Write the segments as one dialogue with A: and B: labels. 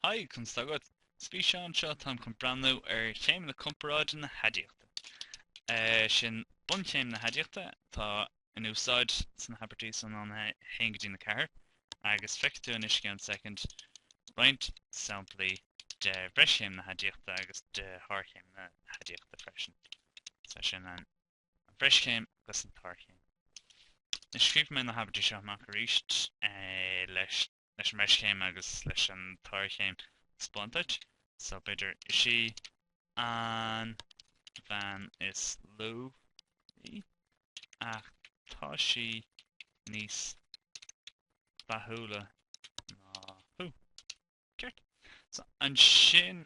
A: Haigh, conas atá agat. Sa bhfíseán seo táim chun breathnú ar chéimeanna comparáide na haidiachta. Sin bunchéim na haidiachta atá in úsáid sna habairtí san óna 1 go dtína 4, agus feicfidh tú anois, i gceann soicind, roinnt samplaí de bhreischéim na haidiachta agus de shárchéim na haidiachta freisin. So sin an bhreischéim agus an tsárchéim. Anois, scríobh mé na habairtí seo amach arís leis leis an bhreischéim agus leis an tsárchéim a thaispeáint duit. So, b'fhéidir, Is í an bhean is lú í, ach tá sí níos dathúla ná thú. Ceart? So, ansin,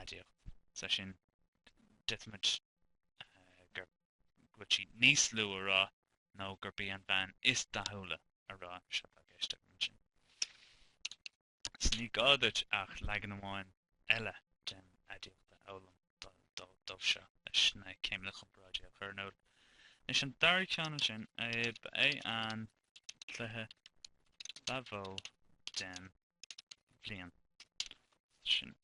A: aidiacht. Is é sin, d'fhéadfaimid go bhfuil sí níos lú a rá nó gurb í an bhean is dathúla a rá. Seo atá i gceist agam ansin. So ní gá duit ach leagan amháin eile den aidiacht a fhoghlaim dóibh seo leis na céimeanna comparáide a chur in iúl. Anois an dara ceann ansin, ba é an cluiche ba mhó den bhliain sin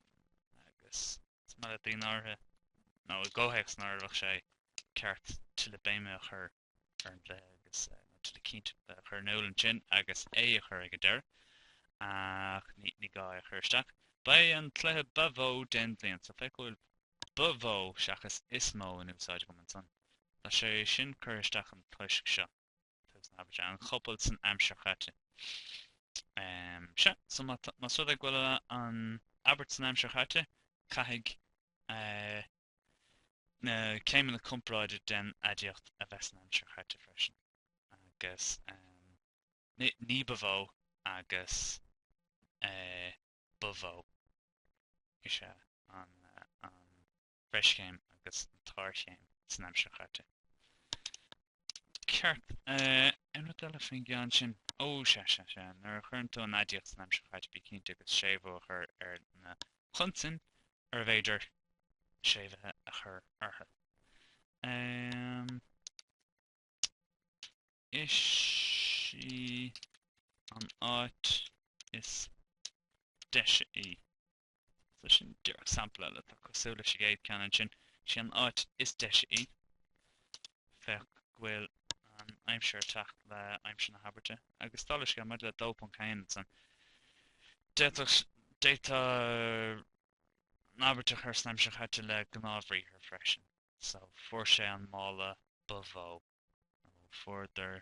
A: agus is maith le daoine áirithe nó i gcomhthéacs nár bheadh sé ceart tuilleadh béime a chur ar an gcluiche agus nó tuilleadh cinnte a chur in iúl ansin agus é a chur ag an deireadh ach ní gá é a chur isteach. Ba é an cluiche ba mhó den bhliain so féach go bhfuil ba mhó seachas is mó in úsáid agam ansan. Tá sé sin curtha isteach ann toisc seo. An chopail san aimsir chaite. Sea. So má tá, más rud é go bhfuil an abairt san aimsir chaite, caithfidh na céimeanna comparáide den aidiacht a bheith san aimsir chaite freisin. Agus ní ba mhó agus ba mhó is ea an bhreischéim agus an tsárchéim san aimsir chaite. Ceart. Aon rud eile faoin gceann sin? Ó, sea, sea, sea. Nuair a chuireann tú an aidiacht san aimsir chaite bí cinnte agus séimhiú a chur ar na consain arbh fhéidir séimhithe a chur orthu. Um, is í an áit is deise í. So sin díreach sampla eile atá cosúil leis an gcéad ceann ansin. Sí an áit is deise í. Féach go bhfuil an aimsir ag teacht le aimsir na habairte. Agus dála an scéil maidir le 2.1 ansan. D'fhéadfá d'fhéadfá an abairt a chur san aimsir chaite le gnáthbhriathar freisin. So fuair sé an mála ba mhó. Nó fuaireadar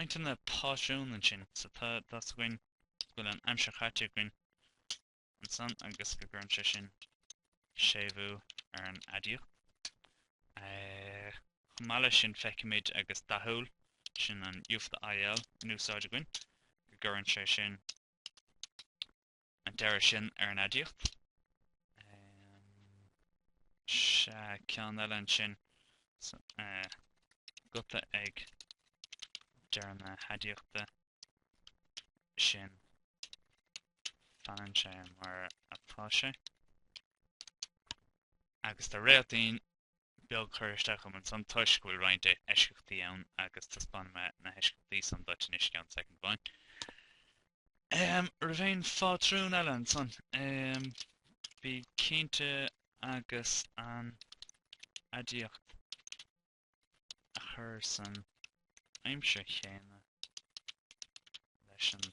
A: roinnt de na pátrúin ansin so tá a fhios againn go bhfuil an aimsir chaite againn ansan agus go gcuireann sé sin séimhiú ar an aidiacht. Chomh maith leis sin feicimid, agus dathúil, sin an U fada IL in úsáid againn, go gcuireann sé sin an deireadh sin ar an aidiacht. sea, ceann eile ansin so, uh, guta ag deireadh na haidiachta sin fanann sé mar atá sé agus tá réaltaín beag curtha isteach agam ansan toisc go bhfuil roinnt eisceachtaí ann agus taispeánfaidh mé na heisceachtaí san duit anois i gceann soicind amháin. Ehm, raibh aon phátrún eile ansan? Ehm, bí cinnte agus an aidiacht a chur san aimsir chéanna leis an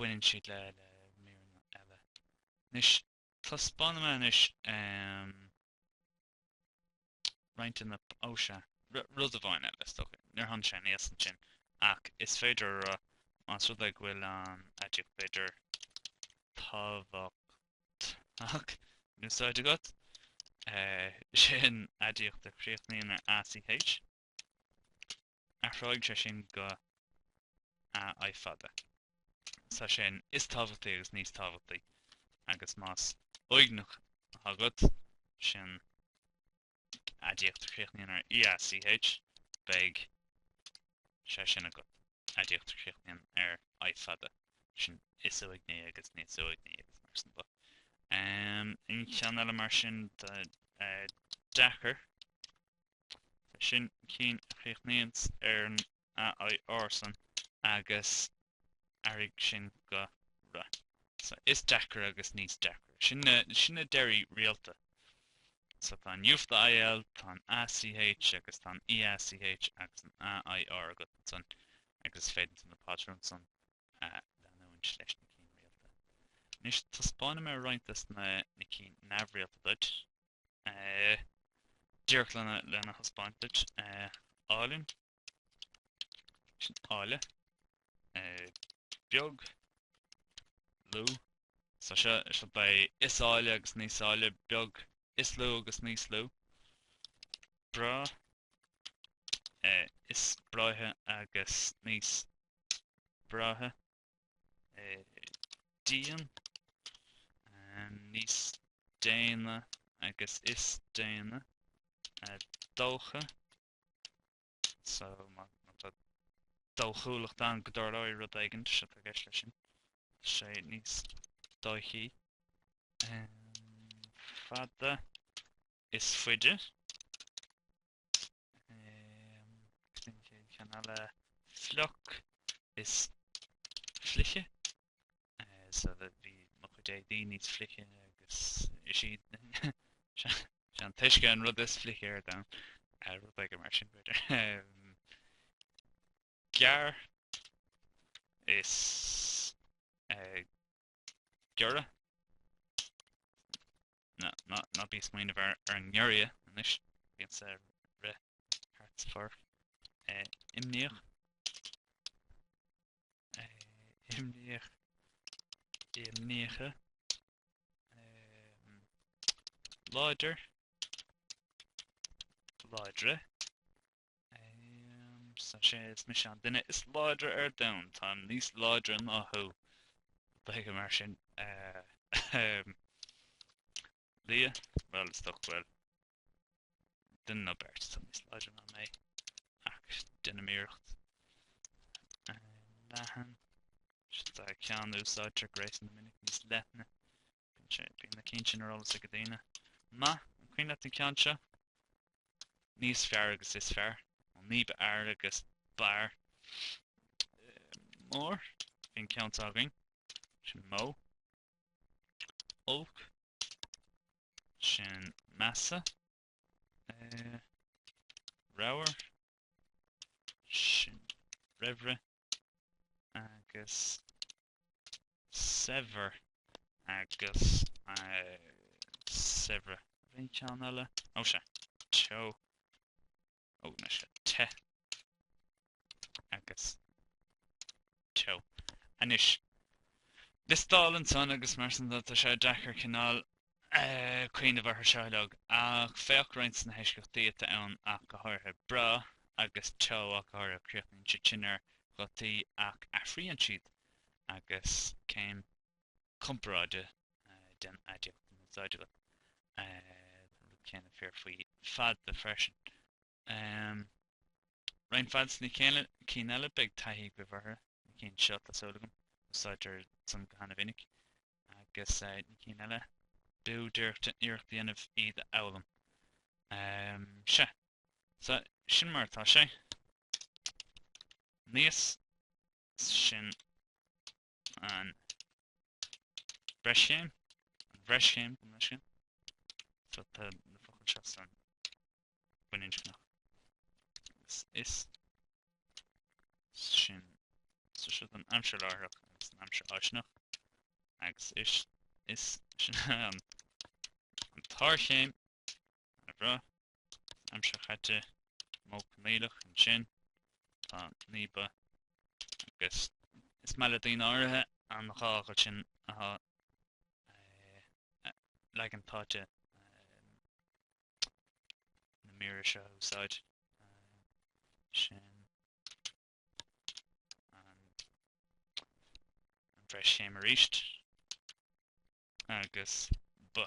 A: baineann siad le míreanna eile. Anois, taispeánfaidh mé anois roinnt de na, ó sea, rud amháin eile, is dócha, níor tháinig sé aníos ansin ach is féidir a rá, más rud é go bhfuil an aidiacht b'fhéidir tábhachtach in úsáid agat, sin aidiacht a chríochnaíonn ar, ACH, athróidh sé sin go AI fada. So sin is tábhachtaí agus níos tábhachtaí agus más uaigneach atá agat, sin aidiacht a chríochnaíonn ar EACH, beidh sé sin agat. Aidiacht a chríochnaíonn ar I fada, sin is uaigní agus níos uaigní agus mar sin de. Um, aon cheann eile mar sin, deacair. sin cinn a chríochnaíonns ar an a, i, r san agus athraigh sin go ra. So is deacra agus níos deacra. Sin na, sin na deirí rialta. So tá an U fada IL, tá an a, ch agus tá an e, a, ch agus an a, i, r agat ansan agus is féidir ansan na pátrúin san a leanúint leis na cinn rialta. Anois taispeánfaidh mé roinnt des na, na cinn neamhrialta duit. díreach lena thaispeáint duit. Álainn, sin áille, beag, lú, so seo beidh is áille agus níos áille, beag, is lú agus níos lú, breá, is breátha agus níos breátha. dian, níos déine agus is déine, dócha, so má tá dóchúlacht ann go dtarlóidh rud éigin, sé atá i gceist leis sin, sé níos dóichí, fada, is faide, Sin an chéad cheann eile. Fliuch is fliche. So bhí mo chuid éadaí níos fliche agus is é an t-uisce an rud is fliche ar domhan. Rud éigin mar sin b'fhéidir. gearr agus giorra. Ná, ná, ná bí ag smaoineamh ar, ar an ngiorria anois, bíonn ag rith thart sa pháirc. Eh, imníoch. Eh, imníoch. Imníche. Eh, láidir. Láidre. So, sé is mise an duine is láidre ar domhan. Táim níos láidre ná thú. B'fhéidir mar sin. Liath? Bhuel, is dócha go bhfuil duine nó beirt atá níos láidre ná mé. Ach déanaim iarracht. Leathan? Sea, ceann a úsáidtear go réasúnta minic níos leithne. Bíonn na cinn sin ar eolas ag daoine maith. An cuimhin leat an ceann seo? Níos fearr agus is fearr. Nó níb fhearr agus b'fhearr. Mór. Bhí an ceann seo againn. Sin mó. Olc. Sin measa. Eh, Ramhar. Sin raimhre. Agus saibhir agus saibhre. Bhí ceann eile. Ó sea, teo. Ó na sea, te agus teo. Anois, liostáil ansan agus mar san tá sé deacair cineál cuimhneamh orthu seo uilig, ach féach roinnt de na heisceachtaí atá ann ach go háirithe, breá agus te ach go háirithe, críochnaíonn siad sin ar ghutaí ach athraíonn siad agus céim comparáide den aidiacht in úsáid agat, tá an rud céanna fíor faoi fada freisin. Um. Roinnt fad sna céanna, cinn eile beidh taithí agaibh orthu, na cinn seo, tá súil agam, úsáidtear san go hana-mhinic, agus na cinn eile, b'fhiú duit iarracht a dhéanamh iad a fhoghlaim. Um. Sea. So, sin mar atá sé. Níos sin. an bhreischéim, an bhreischéim, gabh mo leithscéal, so tá na focail seo san baininscneach agus is sin so seo don aimsir láithreach agus an aimsir fháistineach agus is is sin an an tsárchéim Ina bhruith aimsir chaite modh coinníollach ansin tá níba agus. Is maith le daoine áirithe an dhá ghuth sin a tháthú leagan táite na míre seo a úsáid sin an bhreischéim arís agus ba.